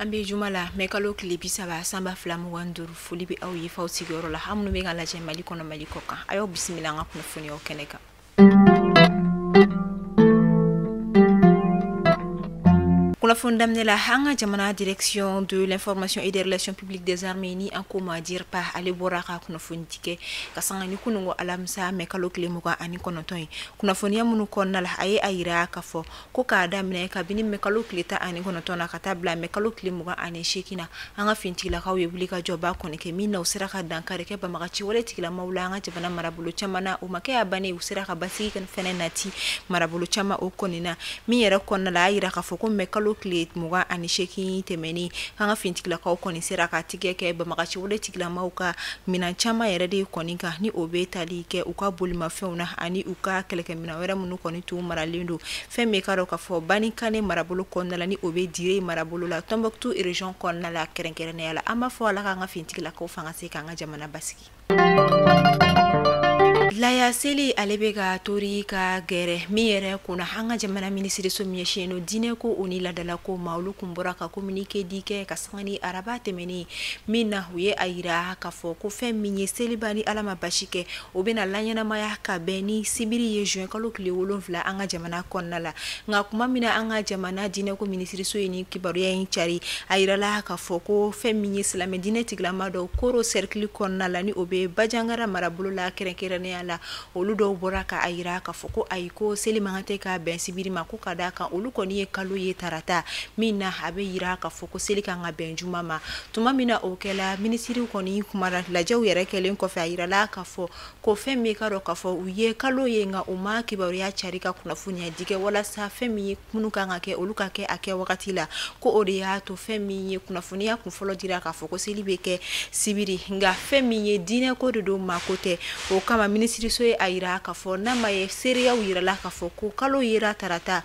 an be juma la mɛ kalo tile bi saba san ba fila mugan duru foli be aw ye f'aw sigiyɔrɔ la aw minnu be k'an lajɛ mali kɔnɔ mali kɔkan a y'aw bisimila an ka kunnafoniyaw kɛnɛ kan kunnafoni daminɛ la an ka jamana direction de l'information et des relations publiques des armées ni an k'o ma DIRPA ale bɔra ka kunnafoni di kɛ ka sanga ni kununko alamisa mɛ kalo tile mugan ani kɔnɔntɔn ye kunnafoniya minnu kɔnɔna la a ye a yira k'a fɔ ko k'a daminɛ kabini mɛ kalo tile tan ani kɔnɔntɔn na ka taa bila mɛ kalo tile mugan ani seegin na an ka fintigilakaw ye wulikajɔba kɔni kɛ min na u sera ka dankari kɛ banbaganci wale tigilamaw la an ka jamana marabolo caman na o ma kɛ a ban ye u sera ka basigi fɛnɛ nati marabolo caman o kɔni na min yɛrɛ kɔnɔna la a yira k'a fɔ ko mɛ kalo tile mugan ani seegin tɛmɛnen an ka fintigilakaw kɔni sera ka tigɛ kɛ banbaganci wale tigilamaw ka minan caman yɛrɛ de kɔni kan ni o bɛ tali kɛ u ka bolimafɛnw na ani u ka kɛlɛkɛ wɛrɛ minnu kɔni tun maralen don fɛn min k'a dɔn k'a fɔ banikane marabolo kɔnɔna la ni o bɛ dire marabolo la tɔnbukutu région kɔnɔna la kɛrɛnkɛrɛnnenya la an b'a fɔ ala k'an ka fintigilakaw fanga se k'an ka jamana basigi laya seli ale bɛ ka tori ka gɛrɛ min yɛrɛ kun na an ka jamana minisiriso min ɲɛsinnen don diinɛ kow ni laadalako ma olu tun bɔra ka communiqué di kɛ ka sanga ni araba tɛmɛnen min na u ye a yira ka fɔ ko fɛn min ye seliba ni ala ma baasi kɛ o bɛna na laɲɛnamaya ka bɛn ni sibiri ye juin kalo tile wolonfila an ka jamana kɔnɔna la nka kuma min na an ka jamana diinɛko minisiriso ye nin kibaruya in cari a yirala k'a fɔ ko fɛn min ye silamɛ diinɛ tigilama dɔw koro sɛrikili kɔnɔna la ni o bɛ bajangara marabolo la kɛrɛnkɛrɛnnenya la olu dɔw bɔra ka a yira k'a fɔ ko ayi ko seli man kan tɛ ka bɛn sibiri ma ko ka d'a kan olu kɔni ye kalo ye tarata min na a bɛ yira k'a fɔ ko seli ka kan ka bɛn juma ma Tuma min na o kɛla minisiri kɔni kumara lajɛw yɛrɛ kɛlen kɔfɛ a yirala ka fɔ ko fɛn min k'a dɔn k'a fɔ u ye kalo ye nka u ma kibaruya cari ka kunnafoniya di kɛ walasa fɛn min ye ko minnu ka kan ka kɛ olu ka kɛ a kɛ wagati la ko o de y'a to fɛn min ye kunnafoniya tun fɔlɔ dira k'a fɔ ko seli bɛ kɛ sibiri nka fɛn min ye diinɛ ko de don maako tɛ o kama minisiriso ye a yira ka fɔ n'a ma ye seereyaw yirala ka fɔ ko kalo yera tarata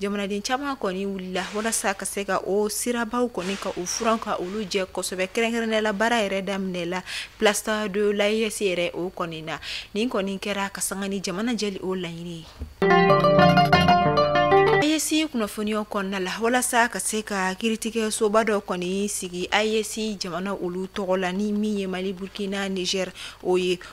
jamanaden caman kɔni wulila walasa ka se ka o sirabaw kɔni ka u furan ka olu jɛ kosɛbɛ kɛrɛnkɛrɛnnenya la baara yɛrɛ daminɛla place de l'AES yɛrɛ o kɔni na nin kɔni kɛra ka sanga ni jamana jɛli o laɲini ye AES kunnafoniyaw kɔnɔna la walasa ka se ka kiritigɛ soba dɔ kɔni sigi AES jamana olu tɔgɔ la ni min ye mali burukina niger o ye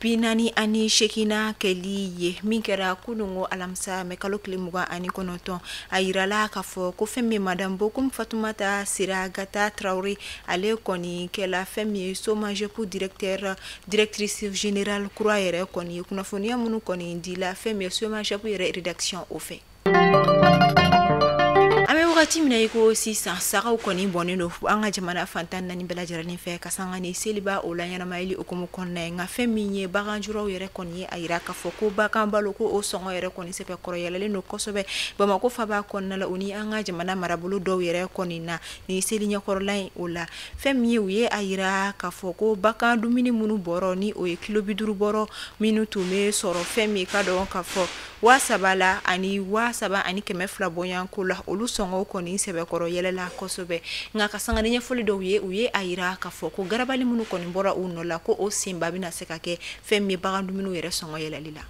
Bi naani ani seeginnan kɛli ye min kɛra kununko alamisa mɛ kalo tile mugan ani kɔnɔntɔn a yirala k'a fɔ ko fɛn min ye madamu Bokumu Fatumata Siragata Traoré ale kɔni kɛla fɛn min ye SOMAGEP directrice générale kura yɛrɛ kɔni kunnafoniya minnu kɔni dila fɛn min ye SOMAGEP yɛrɛ rédaction o fɛ wagati min na i ko sisan sagaw kɔni bɔnen don an ka jamana fan tan naani bɛɛ lajɛrɛlen fɛ ka sanga ni seliba o laɲɛnamayali hukumu kɔnɔna ye nka fɛn min ye baganjuraw yɛrɛ kɔni ye a yira k'a fɔ ko bagan balo ko o sɔngɔ yɛrɛ kɔni sɛbɛkɔrɔ yɛlɛlen don kosɛbɛ bamakɔ faba kɔnɔna la u ni an ka jamana marabolo dɔw yɛrɛ kɔni na ni seli ɲɛkɔrɔla in o la fɛn min ye u ye a yira k'a fɔ ko bagan dumuni minnu bɔrɔ ni o ye kilo bi duuru bɔrɔ minnu tun bɛ sɔrɔ fɛn min k'a dɔn k'a fɔ waa saba la ani waa saba ani kɛmɛ fila bɔɲɔgɔnko la olu sɔngɔw kɔni sɛbɛkɔrɔ yɛlɛla kosɛbɛ nka ka sanga ni ɲɛfɔli dɔw ye u ye a yira k'a fɔ ko garabali minnu kɔni bɔra u nɔ la ko o senba bɛna se ka kɛ fɛn min ye bagan dumuniw yɛrɛ sɔngɔ yɛlɛli la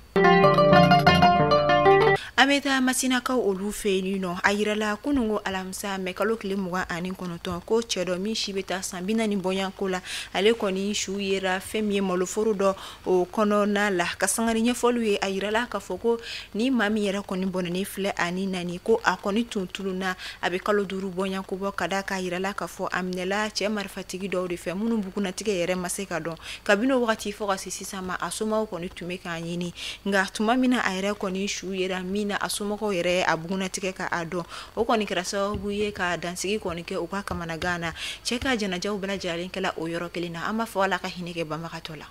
an bɛ taa masinakaw olu fɛ yen nɔ a yirala kunun ko alamisa mɛ kalo tile mugan ani kɔnɔntɔn ko cɛ dɔ min si bɛ taa san bi naani bɔɲɔgɔnko la ale kɔni su yera fɛn min ye maloforo dɔ o kɔnɔna la ka sanga ni ɲɛfɔliw ye a yirala k'a fɔ ko ni maa min yɛrɛ kɔni bɔnɛnen filɛ a ni na ni ko a kɔni tun tununna a bɛ kalo duuru bɔɲako bɔ ka d'a kan a yirala k'a fɔ a minɛla cɛ marifatigi dɔw de fɛ minnu bugunnatigɛ yɛrɛ ma se ka dɔn kabini o wagati fɔ ka se sisan ma a somɔgɔw kɔni tun bɛ k'a ɲini nka tuma min na a yɛrɛ kɔni su yera min na a somɔgɔw yɛrɛ a bugunnatigɛ ka a dɔn o kɔni kɛra sababu ye ka dansigi kɔni kɛ u ka kamanagan na cɛ ka janajaw bɛɛ lajɛlen kɛla o yɔrɔ kelen na an b'a fɔ ala ka hinɛ kɛ banbagatɔ la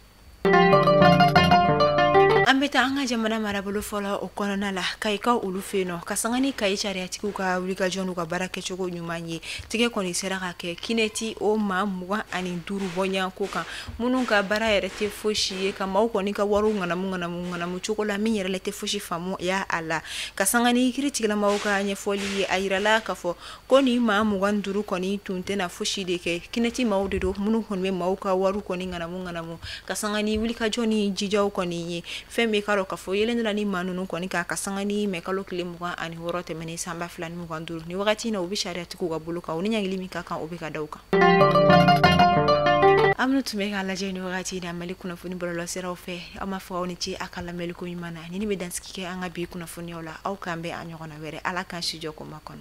an bɛ taa an ka jamana marabolo fɔlɔ o kɔnɔna la kayikaw olu fɛ yen nɔ ka sanga ni kayi sariyatigiw ka wulikajɔ n'u ka baara kɛcogo ɲuman ye tigɛ kɔni sera ka kɛ kinɛti o maa mugan ani duuru bɔɲɔgɔnko kan minnu ka baara yɛrɛ tɛ fosi ye ka maaw kɔni ka wariw ŋanamu ŋanamu cogo la min yɛrɛ la tɛ fosi faamuya a la ka sanga ni kiiritigilamaw ka ɲɛfɔli ye a yirala k'a fɔ ko ni maa mugan duuru kɔni tun tɛna fosi de kɛ kinɛti maaw de don minnu kɔni bɛ maaw ka wari kɔni ŋanamu ŋanamu ka sanga ni wulikajɔ ni jijaw kɔni ye fɛn bɛ k'a dɔn k'a fɔ yeelen dɔla ni maa ninnu kɔni kan ka sanga ni mɛ kalo tile mugan ani wɔɔrɔ tɛmɛnen san ba fila ni mugan duuru ni wagati in na u bɛ sariyatigiw ka bolo kan u ni ɲangili min ka kan o bɛ ka da u kan aw minnu tun bɛ k'an lajɛ ni wagati in na mali kunnafoni bɔlɔlɔsiraw fɛ an b'aw fo aw ni ce a ka lamɛnliko ɲuman na ni ni bɛ dansigi kɛ an ka bi kunnafoniyaw la aw k'an bɛn a ɲɔgɔnna wɛrɛ ala k'an si jɔ k'o makɔnɔ